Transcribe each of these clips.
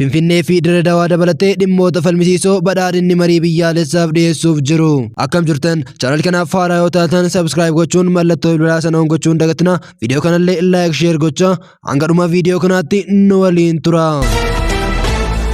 Finfinnee fi Dirree Dawaa dabalatee dhimmoota falmisiisoo badhaadhinni marii biyyaalessaaf dhiyeessuuf jiru. Akkam jirtan chaanal kanaaf haaraa yoo taatan sabskiraayib gochuun mallattoo bilbilaa sana gochuun dagatina. Viidiyoo kanallee laayik sheer gochaa Hanga dhuma viidiyoo kanaatti nu waliin tura.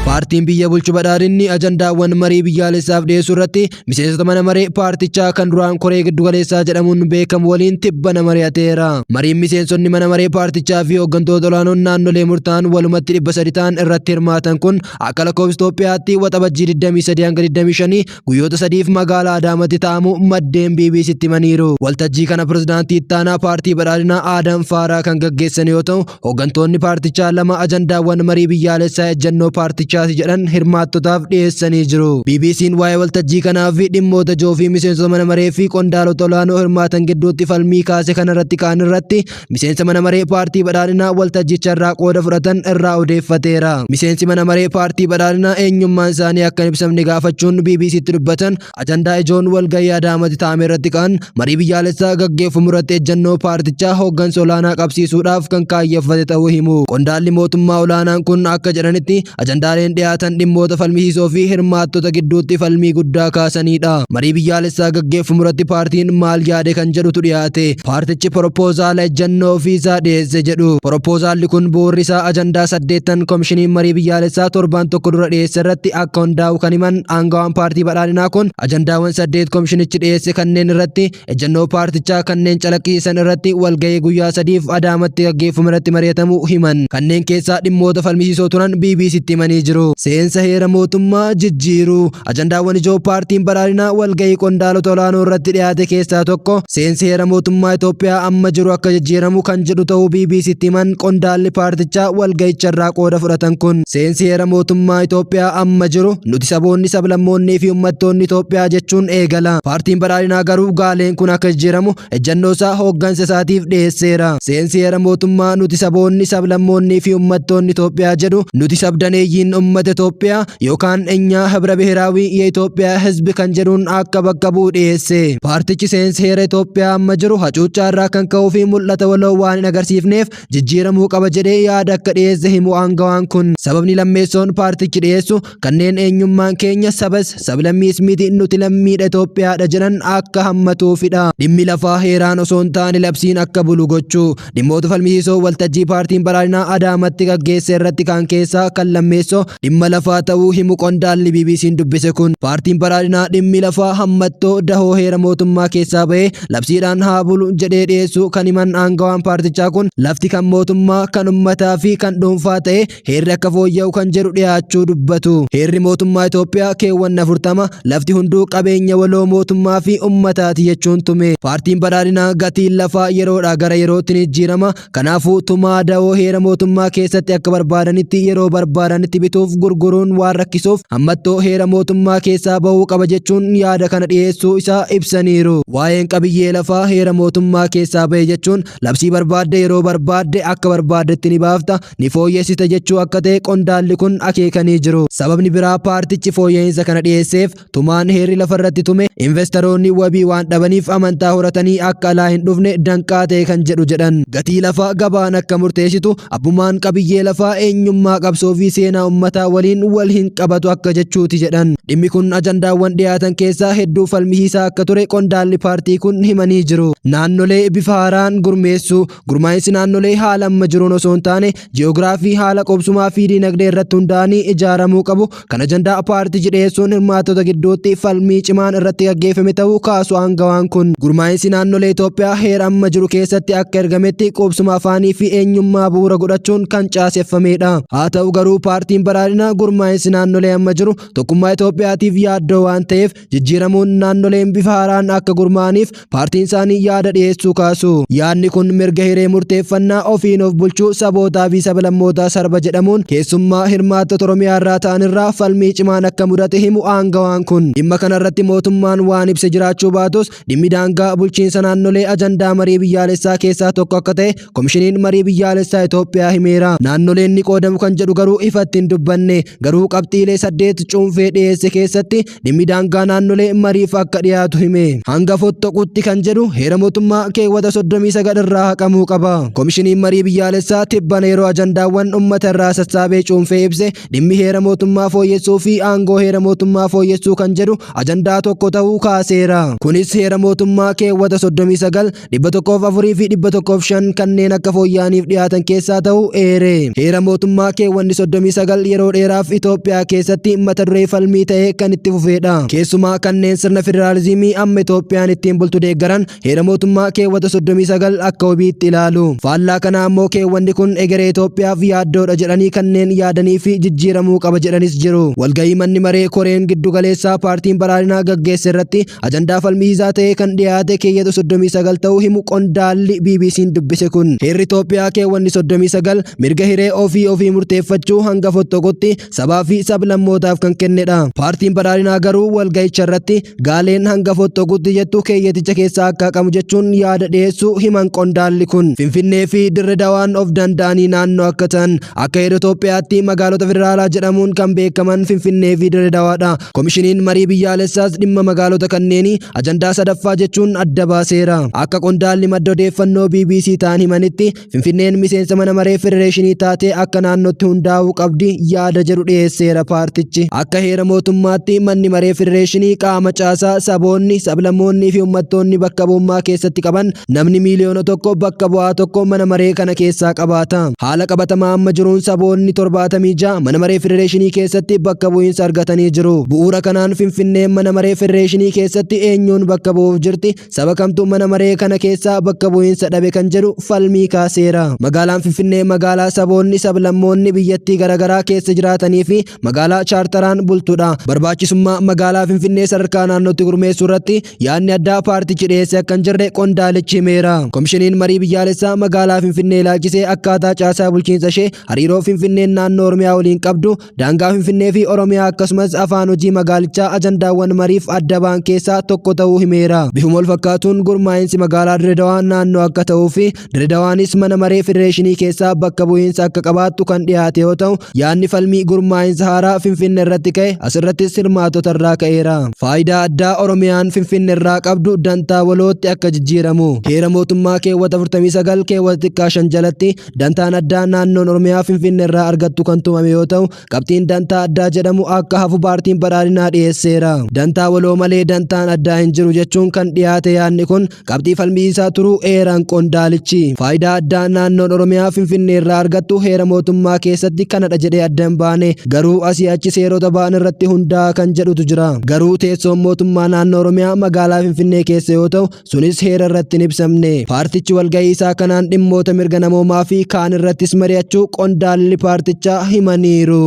Paartiin biyya bulchu badhaadhinni ajandaawwan marii biyyaalessaaf dhiyeessuu irratti miseensota mana maree paartichaa kan duraan koree giddugaleessaa jedhamuun beekamu waliin tibbana mari'ateera. Mariin miseensonni mana maree paartichaa fi hooggantoota olaanoon naannolee murtaa'an walumatti dhibba sadi ta'an irratti hirmaatan kun akka lakkoofsa Itoophiyaatti waxabajjii 23 hanga 25 guyyoota sadiif magaalaa Adaamatti taa'amu maddeen BBCtti himaniiru. Waltajjii kana pirezidaantii ittaanaa paartii badhaadhinaa Aadam Faaraa kan gaggeessan yoo ta'u, hooggantoonni paartichaa lama ajandaawwan marii biyyaalessaa ejjennoo paartichaati jedhan hirmaattotaaf dhiyeessanii jiru. BBC'n waa'ee waltajjii kanaa fi dhimmoota ijoo fi miseensota mana maree fi qondaalota olaanoo hirmaatan gidduutti falmii kaase kanarratti ka'an irratti miseensa mana maree paartii badhaadhinaa waltajjicha irraa qooda fudhatan irraa odeeffateera. Miseensi mana maree paartii badhaadhinaa eenyummaan isaanii akka hin ibsamne gaafachuun BBCtti dubbatan ajandaa ijoon walgahii Adaamatti taa'ame irratti ka'an marii biyyaalessaa gaggeeffamu irratti ejjannoo paartichaa hooggansa olaanaa qabsiisuudhaaf kan kaayyeffate ta'uu himu. Qondaalli mootummaa olaanaan kun akka jedhanitti Ajandaaleen dhiyaatan dhimmoota falmisiisoo fi hirmaattota gidduutti falmii guddaa kaasaniidha. Marii biyyaalessaa gaggeeffamu irratti paartiin maal yaade kan jedhutu dhiyaate. Paartichi poropoozaala ejjannoo ofii isaa dhiyeesse jedhu. Poropoozaalli kun bu'uurri isaa ajandaa saddeettan komishiniin marii biyyaalessaa torbaan tokko dura dhiyeesse irratti akka hundaa'u kan himan aangawaan paartii badhaadhinaa kun ajandaawwan saddeet komishinichi dhiyeesse kanneen irratti ejjennoo paartichaa kanneen calaqqiisan irratti walgahii guyyaa sadiif adaamatti gaggeeffamu irratti mari'atamu himan kanneen keessaa dhimmoota falmisiisoo turan BBCtti himanii jiru. Seensa heera mootummaa jijjiiruu ajandaawwan ijoo paartiin badhaadhinaa walgahii qondaalota olaanoo irratti dhiyaate keessaa tokko seensi heera mootummaa Itoophiyaa amma jiru akka jijjiiramu kan jedhu ta'uu BBCtti himan qondaalli paartichaa walgahicha irraa qooda fudhatan kun seensi heera mootummaa Itoophiyaa amma jiru nuti saboonni sablammoonnii fi uummattoonni Itoophiyaa jechuun eegala. Paartiin badhaadhinaa garuu gaaleen kun akka jijjiiramu ejjannoo isaa hooggansa isaatiif dhiyeesseera. Seensi heera mootummaa nuti saboonni, sablammoonnii fi ummattoonni Itoophiyaa jedhu nuti sabdaneeyyiin ummata Itoophiyaa yookaan enyaa hibra bihiraawii ye'Itoophiyaa hizbi kan jedhuun akka bakka bu'u dhiyeesse. Paartichi seensi heera Itoophiyaa amma jiru hacuuccaa irraa kan ka'uu fi mul'ata waloo waan hin agarsiifneef jijjiiramuu qaba jedhee yaada akka dhiyeesse himu aangawaan kun. Sababni lammeessoon paartichi dhiyeessu kanneen eenyummaan keenya sabas sablammiis miti nuti lammiidha Itoophiyaadha jedhan akka hammatuufidha. Dhimmi lafaa heeraan osoo hin taane labsiin akka bulu gochuu dhimmoota falmisiisoo waltajjii paartiin badhaadhinaa Adaamatti gaggeesse irratti kan keessaa kan lammeessoo dhimma lafaa ta'uu himu qondaalli BBC'n dubbise kun paartiin badhaadhinaa dhimmi lafaa hammattoo dahoo heera mootummaa keessaa ba'ee labsiidhaan haa bulu jedhee dhiyeessu kan himan aangawaan paartichaa kun lafti kan mootummaa kan ummataa fi kan dhuunfaa ta'e Heerri akka fooyya'u kan jedhu dhiyaachuu dubbatu. Heerri mootummaa Itoophiyaa keewwanna 40 lafti hunduu qabeenya waloo mootummaa fi ummataati jechuun tume. Paartiin badhaadhinaa gatiin lafaa yeroodhaa gara yerootti ni jijjiirama. Kanaafuu tumaa dawoo heera mootummaa keessatti akka barbaadanitti yeroo barbaadanitti bituuf gurguruun waan rakkisuuf hammattoo heera mootummaa keessaa bahuu qaba jechuun yaada kana dhiyeessuu isaa ibsaniiru. Waa'een qabiyyee lafaa heera mootummaa keessaa bahe jechuun labsii barbaadde yeroo barbaadde akka barbaaddetti ni baafta. ni fooyyessita jechuu akka ta'e qondaalli kun akeekanii jiru. Sababni biraa paartichi fooyya'iinsa kana dhiyeesseef tumaan heerri lafarratti tume investaroonni wabii waan dhabaniif amantaa horatanii akka alaa hin dhufne danqaa ta'e kan jedhu jedhan. Gatii lafaa gabaan akka murteessitu abbumaan qabiyyee lafaa eenyummaa qabsoo fi seenaa ummataa waliin wal hin qabatu akka jechuuti jedhan. Dhimmi kun ajandaawwan dhiyaatan keessaa hedduu falmisiisaa akka ture qondaalli paartii kun himanii jiru. Naannolee bifa haaraan gurmeessuu Gurmaa'insi naannolee haala amma jiruun osoo hin taane ji'oogiraafii haala qubsumaa fi diinagdee irratti hundaa'anii ijaaramuu qabu kan ajandaa paartichi dhiyeessuun hirmaattota gidduutti falmii cimaan irratti gaggeeffame ta'uu kaasu aangawaan kun. Gurmaa'insi naannolee Itoophiyaa heera amma jiru keessatti akka ergametti qubsuma afaanii fi eenyummaa bu'uura godhachuun kan caaseffamedha. Haa ta'u garuu paartiin badhaadhinaa gurmaa'insi naannolee amma jiru tokkummaa Itoophiyaatiif yaaddoo waan ta'eef jijjiiramuun naannoleen bifa haaraan akka gurmaa'aniif paartiin isaanii yaada dhiyeessuu kaasu. Yaadni kun mirga hiree murteeffannaa ofiin of bulchuu sabootaa fi sablammootaa sarba jedhamuun keessummaa hirmaattota Oromiyaa irraa ta'an irraa falmii cimaan akka mudate himu aangawaan kun. Dhimma kanarratti mootummaan waan ibse jiraachuu baatus Dhimmi daangaa bulchiinsa naannolee ajandaa marii biyyaalessaa keessaa tokko akka ta'e komishiniin marii biyyaalessaa Itoophiyaa himeera. Naannoleen ni qoodamu kan jedhu garuu ifatti hin dubbanne. Garuu qabxiilee saddeet cuunfee dhiyeesse keessatti dhimmi daangaa naannolee mariif akka dhiyaatu hime. Hanga fottoquutti kan jedhu heera mootummaa keewwata 39 irraa haqamuu qaba. Komishiniin marii biyyaalessaa tibbana yeroo ajandaawwan uummata irraa sassaabee cuunfee ibse dhimmi heera mootummaa fooyyessuu fi aangoo heera mootummaa fooyyessuu kan jedhu ajandaa tokko ta'uu kaaseera. Kunis heera mootummaa keewwata 39, 104 fi 105 kanneen akka fooyya'aniif dhiyaatan keessaa ta'uu eere. Heera mootummaa keewwanni 39 yeroo dheeraaf Itoophiyaa keessatti mata duree falmii ta'ee kan itti fufeedha. Keessumaa kanneen sirna federaalizimii amma Itoophiyaan ittiin bultu deeggaran Heera mootummaa keewwata 39 akka wabiitti ilaalu. Faallaa kanaa ammoo keewwanni kun egeree Itoophiyaaf yaaddoodha jedhanii kanneen yaadanii fi jijjiiramuu qaba jedhanis jiru. Walgahii manni maree koreen giddugaleessaa paartiin badhaadhinaa gaggeesse irratti ajandaa falmiisaa ta'ee kan dhiyaate keeyyata 39 ta'uu himu qondaalli BBC'n dubbise kun. Heerri Itoophiyaa keewwanni 39 mirga hiree ofii ofii murteeffachuu hanga fottoqutti sabaa fi sablammootaaf kan kennedha. Paartiin badhaadhinaa garuu walga'icha irratti gaaleen hanga fottoqutti jettu keeyyaticha keessaa akka haqamu jechuun yaada dhiyeessuu himan qondaalli kun. Finfinnee fi Dirre Dawaan of danda'anii naannoo akka ta'an akka heera Itoophiyaatti magaalota federaalaa jedhamuun kan beekaman Finfinnee fi Dirre Dawaadha. Komishiniin marii biyyaalessaas dhimma magaalota kanneenii ajandaa sadaffaa jechuun adda baaseera. Akka qondaalli madda odeeffannoo BBC ta'an himanitti Finfinneen miseensa mana maree federeeshinii taatee akka naannootti hundaa'uu qabdi yaada jedhu dhiyeesseera paartichi. Akka heera mootummaatti manni maree federeeshinii qaama caasaa saboonni, sablammoonnii fi uummattoonni bakka bu'ummaa keessatti qaban namni miiliyoona tokko bakka bu'aa tokko mana maree kana keessaa qabaata. Haala qabatamaa amma jiruun saboonni 76 mana maree federeeshinii keessatti bakka bu'iinsa argatanii jiru. Bu'uura kanaan Finfinneen mana maree federeeshinii keessatti eenyuun bakka bu'uuf jirti? Saba kamtu mana maree kana keessaa bakka bu'iinsa dhabe kan jedhu falmii kaaseera. Magaalaan Finfinnee magaalaa saboonni sablammoonni biyyattii garaagaraa keessa jiraatanii fi magaalaa chaartaraan bultudha. Barbaachisummaa magaalaa Finfinnee sadarkaa naannootti gurmeessuu irratti yaadni addaa paartichi dhiyeesse akka hin jirre qondaalichi himeera. Komishiniin marii biyyaalessaa magaalaa Finfinnee ilaalchisee akkaataa caasaa bulchiinsa ishee hariiroo Finfinneen naannoo Oromiyaa waliin qabdu Daangaa Finfinnee fi Oromiyaa akkasumas afaan hojii magaalichaa ajandaawwan mariif adda ba'an keessaa tokko ta'uu himeera. Bifuma wal fakkaatuun gurmaa'insi magaalaa Dirredawaa naannoo akka ta'uu fi Dirredawaanis mana maree federeeshinii keessaa bakka bu'iinsa akka qabaattu kan dhiyaate yoo ta'u yaadni falmii gurmaa'insa haaraa Finfinnee irratti ka'e asirrattis hirmaatota irraa ka'eera. Faayidaa addaa Oromiyaan Finfinnee irraa qabdu dantaa walootti akka jijjiiramu. Heera mootummaa keewwata 49 keewwata xiqqaa 5 jalatti Dantaan addaa naannoon Oromiyaa Finfinnee irraa argattu kan tumame yoo ta'u, qabxiin dantaa addaa jedhamu akka hafu paartiin badhaadhinaa dhiyeesseera. Dantaa waloo malee dantaan addaa hin jiru jechuun kan dhiyaate yaadni kun qabxii falmiisaa turuu eeran qondaalichi. Faayidaa addaa naannoon Oromiyaa Finfinnee irraa argattu heera mootummaa keessatti kanadha jedhee adda hin baane garuu asii achi seerota ba'an irratti hundaa'a kan jedhutu jira. Garuu teessoon mootummaa naannoo Oromiyaa magaalaa Finfinnee keessa yoo ta'u, Sunis heera irratti hin ibsamne. Paartichi walgahii isaa kanaan dhimmoota mirga namoomaa fi kaan irrattis mari'achuu qondaalli paartichaa himaniiru.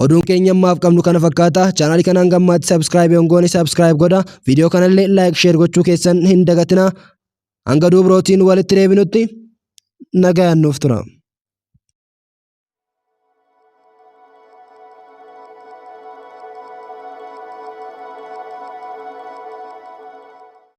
Oduun keenya ammaaf qabnu kana fakkaata. Chaanaalii kana hanga ammaatti sabskiraayib hin goone sabskiraayib godha. Viidiyoo kanallee laayik sheer gochuu keessan hin dagatina. Hanga duubrootiin walitti deebinutti nagayaan nuuf tura.